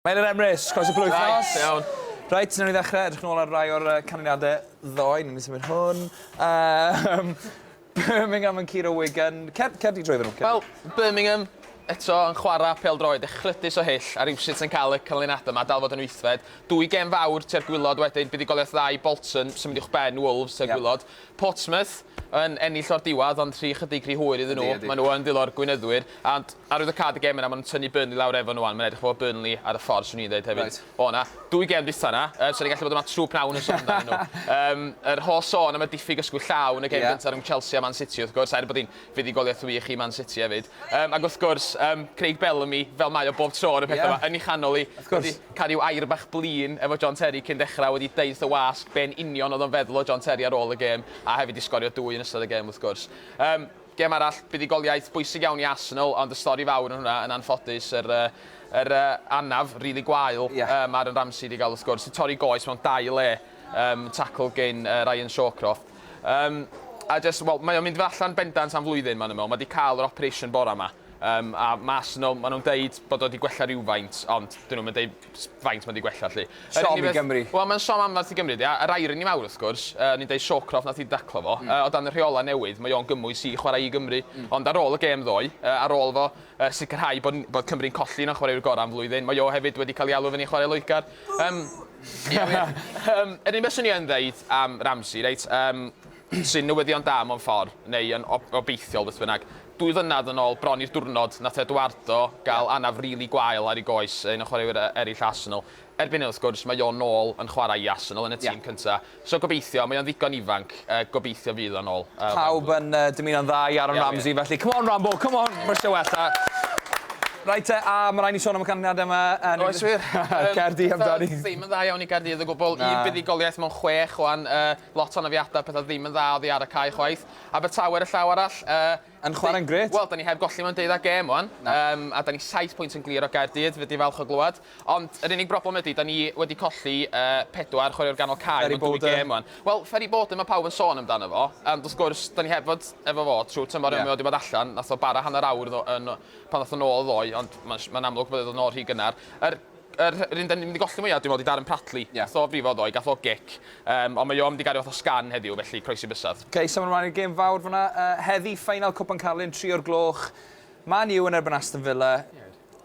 Mae'n yr Emrys, croeso plwyf nos. Reit, iawn. Reit, newn ni ddechrau, edrych nôl ar rai o'r canlyniadau ddoe, newn ni symud hwn. Um, Birmingham yn curo Wigan. Cer, cer di drwy fe nhw. Wel, Birmingham eto yn chwarae pel droed echlydus o hyll a rhywsut yn cael y canlyniadau yma, dal fod yn wythfed. Dwy gem fawr tua'r gwylod wedyn, buddugoliaeth dda i Bolton, symud i'ch ben Wolves tua'r gwylod. Portsmouth yn ennill o'r diwedd, ond rhy chydig rhy hwyr iddyn nhw. Maen nhw yn ddilor gwynyddwyr. Ond Arwyddocâd y gem yna, ma' nhw'n tynnu Burnley lawr efo nhw 'wan, mae'n edrych fel bod Burnley ar y ffordd, 'swn i'n ddeud hefyd. Reit. O na, dwy gem dwytha 'na, yy so ni'n gallu bod yn falch trwp nawn yn sôn amdanyn nhw. Yym, yr holl sôn am y diffyg ysgwydd llaw yn y gem gynta rhwng Chelsea a Man City wrth gwrs, er bod hi'n fuddugoliaeth wych i Man City hefyd. Yym, ac wrth gwrs, yym, Craig Bellamy, fel mae o bob tro ar y petha 'ma, yn ei chanol hi, wedi cael ryw air bach blin efo John Terry cyn dechra, wedi deud wrth y wasg be yn union oedd o'n feddwl o John Terry ar ôl y gem, a hefyd 'di sgorio dwy yn ystod y gem wrth gwrs. Yym. Gem arall, buddugoliaeth bwysig iawn i Arsenal ond y stori fawr yn hwnna yn anffodus yr yr anaf rili gwael yym Aaron Ramsey 'di ga'l wrth gwrs, 'di torri goes mewn dau le yym tacl gin yy Ryan Shawcroft yym a jyst wel mae o'n mynd allan bendant am flwyddyn ma' nw'n me'wl, ma' 'di ca'l yr operation bora 'ma yym a ma' Arsenal ma' nw'n deud bod o 'di gwella rywfaint ond 'dyn nw'm yn deud faint ma' 'di gwella 'lly. Siom i Gymru. Wel ma'n siom anferth i Gymru 'di a yr irony mawr wrth gwrs, yy ni'n deud Shawcroft nath 'i daclo fo, yy o dan y rheola' newydd mae o'n gymwys i chwarae i Gymru, ond ar ôl y gêm ddoe, yy ar ôl fo yy sicrhau bod n- bod Cymru'n colli un o'n chwaraewyr gora' am flwyddyn, mae o hefyd wedi ca'l 'i alw i fyny i chwarae Loegr. Yym. Ie wir. Yym yr unig beth swn i yn ddeud am Ramsey reit, yym, Trin newyddion da mewn ffordd, neu yn ob- obeithiol beth bynnag. Dwy flynedd yn ôl, bron i'r diwrnod, nath Eduardo gael anaf rili gwael ar ei goes, un o chwaraewyr e- eraill Arsenal. Erbyn hyn, wrth gwrs, mae o nôl yn chwarae i Arsenal yn y tîm cynta. So gobeithio, mae o'n ddigon ifanc, yy gobeithio fydd o'n ôl. Yy Pawb yn yy dymuno'n dda i Aaron Ramsey felly. Come on Rambo, come on! Mae isie wella. Reit te, a ma' raid ni sôn am y canlyniade yma yn... Oes wir. Caerdydd amdani. Ddim yn dda iawn i Gaerdydd o gwbwl. Un buddugoliaeth mewn chwech wan. Yy. Lot o anafiadau, pethau ddim yn dda oddi ar y cae chwaith. Abertawe ar y llaw arall. Yy... Yn chwarae'n grêt. Wel, da ni heb golli mewn deuddag gêm wan. Na. Yym, a da ni saith pwynt yn glir o Gaerdydd, fy' di falch o glywed. Ond yr unig broblem ydi, da ni wedi colli yy pedwar chwaraewr ganol cae mewn dwy gêm wan. Wel, Ferry Borden ma' pawb yn sôn amdano fo, ond wrth gwrs, da ni heb fod efo fo trwy tymor Ie. a mae o di bod allan. Nath o bara hanner awr ddo- yn pan ddath o nôl ddoe, ond ma'n sh- ma'n amlwg bod e dod nôl rhy gynnar. Yr Yr un dan ni'n mynd i golli mwya dwi'n meddwl ydi Darren Pratley. Ie. Gath o frifo ddoe, gath o gic. Yym ond mae o mynd i gario fath o sgan heddiw felly croesi bysedd. Ok, symud ymlaen i'r gêm fawr fan'na. Yy heddi, ffeinal Cwpan Carlin, tri o'r gloch. Man U yn erbyn Aston Villa.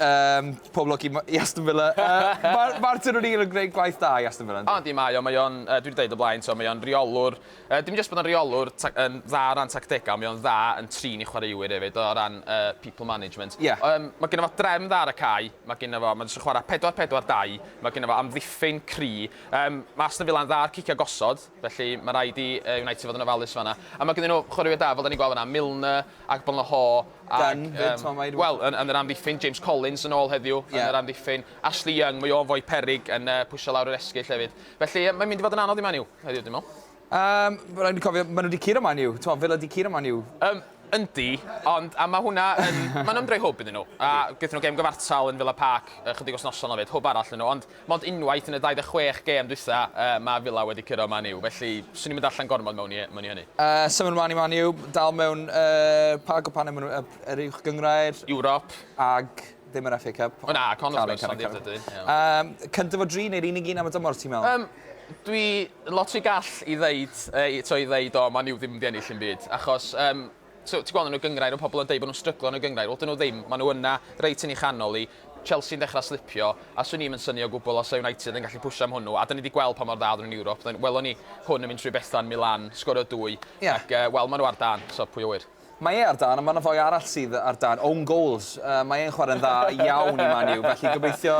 Yym, pob lwc i m- i Aston Villa. Yy Mar- Martin O'Neill yn gwneud gwaith da i Aston Villa yndi? O yndi, mae o, mae o'n, yy dwi 'di deud o blaen t'o' mae o'n reolwr Yy dim jyst bod yn reolwr ta- yn dda o ran tactegau ond mae o'n dda yn trin ei chwaraewyr hefyd o ran yy people management. Ie. Yym mae gynno fo drefn dda ar y cae, mae gynno fo, mae jyst yn chwarae pedwar pedwar dau, mae gynno fo amddiffyn cry, yym mae Aston Villa'n dda ar ciciau gosod felly mae rhaid i yy United fod yn ofalus fan'na. A mae gynddyn nhw chwaraewyr da fel dan ni'n gweld fan'na, Milner, Agbonlahor ac yym... Dunne 'fyd timod mae... Wel yn yn yr amddiffyn, James Collins yn ôl heddiw yn yr amddiffyn, Ashley Young, mae o'n foi peryg yn yy pwsio lawr yr esgyll hefyd. Felly, mae'n mynd i fod yn anodd i Man U heddiw, dwi'n meddwl. Yym, rhaid ni cofio, maen nhw wedi curo Man U. T'mo, Villa wedi curo Man U. Yym, yndi, ond, a mae hwnna yn... Mae'n ymdroi hwb iddyn nhw. A gaethon nhw gêm gyfartal yn Villa Park ychydig wythnosau yn ôl 'fyd, hwb arall iddyn nhw. Ond, mond unwaith yn y 26 gêm dwytha, yy, mae Villa wedi curo Man U. Felly, swn i'm yn darllen gormod mewn i mewn i hynny. Yy, symud ymlaen i Man U, dal mewn, yy, pa gwpanau maen nhw, yy, yr Uwch Gynghrair? Ewrop. Ag? Ddim yr FA Cup. O na, Con wrth gwrs, ond i'r dydy. Um, cyntaf o dri neu'r unig un am y dymor, ti'n meddwl? Um, dwi lot rhy gall i ddeud, e, to i ddeud, o, ma'n i'w ddim wedi ennill yn byd. Achos, um, so, ti'n gweld yn y gyngrair, y pobl yn dweud bod nhw'n stryglo yn y gyngrair. Wel, dyn nhw ddim, maen nhw yna, reit yn ei chanol i. Chelsea'n dechrau slipio, a swn i'n syni o gwbl os United yn gallu pwysio am hwnnw, a dyn ni wedi gweld pa mor dda oedden nhw'n Ewrop. Welon ni hwn yn mynd trwy Bethan, Milan, sgorio dwy, yeah. ac uh, wel, maen nhw ar dan, so pwy o wir. Mae e ar dân, ond mae 'na foi arall sydd ar dân, own goals. Yy, mae e'n chwarae'n dda iawn i Man U, felly gobeithio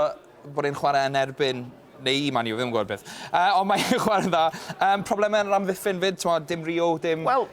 bod e'n chwarae yn erbyn neu i Man U, fi ddim yn gwybod beth. Uh, ond mae e'n chwarae'n dda. Um, problemau yn yr amddiffyn fyd, ti'n dim Rio, dim... Wel,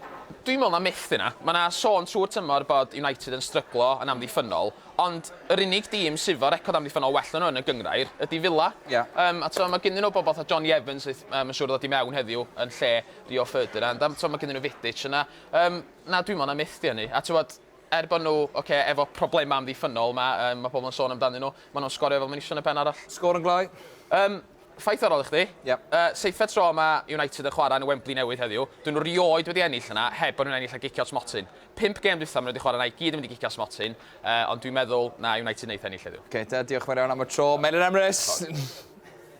dwi'n meddwl na myth yna. Mae yna sôn trwy'r tymor bod United yn stryglo yn amddiffynol, ond yr unig dîm sydd fo record amddiffynol well na nhw yn y gyngrair ydy Villa. Yeah. Um, a twa, mae gynnu nhw bobl fatha Johnny Evans, um, yn siŵr ddod i mewn heddiw yn lle Rio Ferdinand. Um, twa, mae gynnu nhw Vidic yna. Yym, na, dwi 'mond am methu â 'ny. A tibod, er bod nhw, ocê, efo problemau amddiffynnol, ma', yym, ma' pobl yn sôn amdanyn nhw, maen nhw'n sgorio fel meision yn y pen arall. Sgôr yn glou. Yym, ffaith arall i chdi. Ie. Yy, seithfed tro ma' United yn chwarae yn y Wembley newydd heddiw. Dyn nhw 'rioed wedi ennill yna heb bod nhw'n ennill a gicio smotyn. Pump gêm dwytha ma' nhw wedi chwarae yna i gyd yn mynd i gicio smotyn, yy, ond dwi'n meddwl na United neith ennill heddiw. Ocê te, diolch yn fawr iawn am y tro, Melin Emrys!